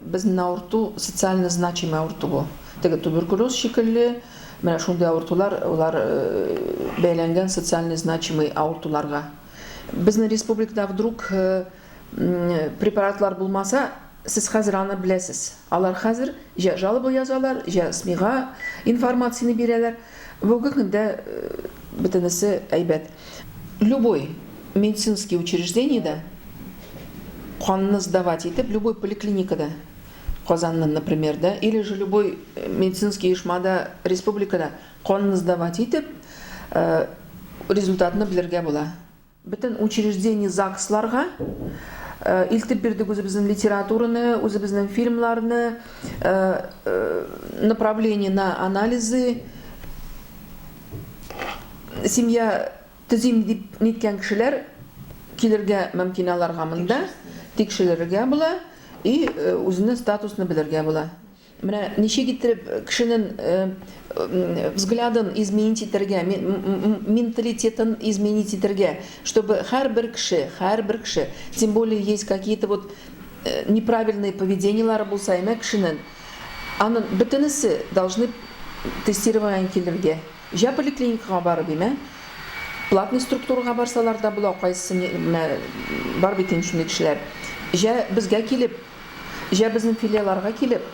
Безнен авырту социально значимый авырту бу. Теге туберкулез шикелле, менә шундый авыртулар, алар бәйләнгән социально значимый авыртуларга. Безнен республикада вдруг препаратлар булмаса, сез хәзер аны беләсез. Алар хәзер җә жалоба язалар, җә СМИга информацияне бирәләр. Бүгенге көндә бөтенесе әйбәт. Любой медицинский учреждениедә канны сдавать итеп, любой поликлиникада, Казанны, например, да, или же любой медицинский оешмада, республикада канны сдавать итеп, результатны белергә була. Бөтен учреждение ЗАГСларга илтеп бирдек үзебезнең литератураны, үзебезнең фильмларны, направление на анализы, Семья төзим дип ниткән кешеләр килергә мөмкин аларга монда, тикшерергә була и үзенең статусны белергә була. Менә ничек иттереп кешенең взглядын изменить итәргә, менталитетын изменить итәргә, чтобы һәрбер кеше, һәрбер кеше, тем более есть какие-то вот неправильные поведениеләре булса, әмма кешенең, Анын бөтенесе должны тестирование килергә. Җә поликлиникага барып имә, платный структурага барсалар да була, кайсы ни мә бар бит инде шундый кешеләр. Җә безгә килеп, җә безнең филиаларга килеп,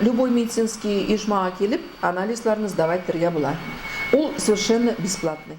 любой медицинский оешмага килеп анализларны сдавать итергә була. Ул совершенно бесплатный.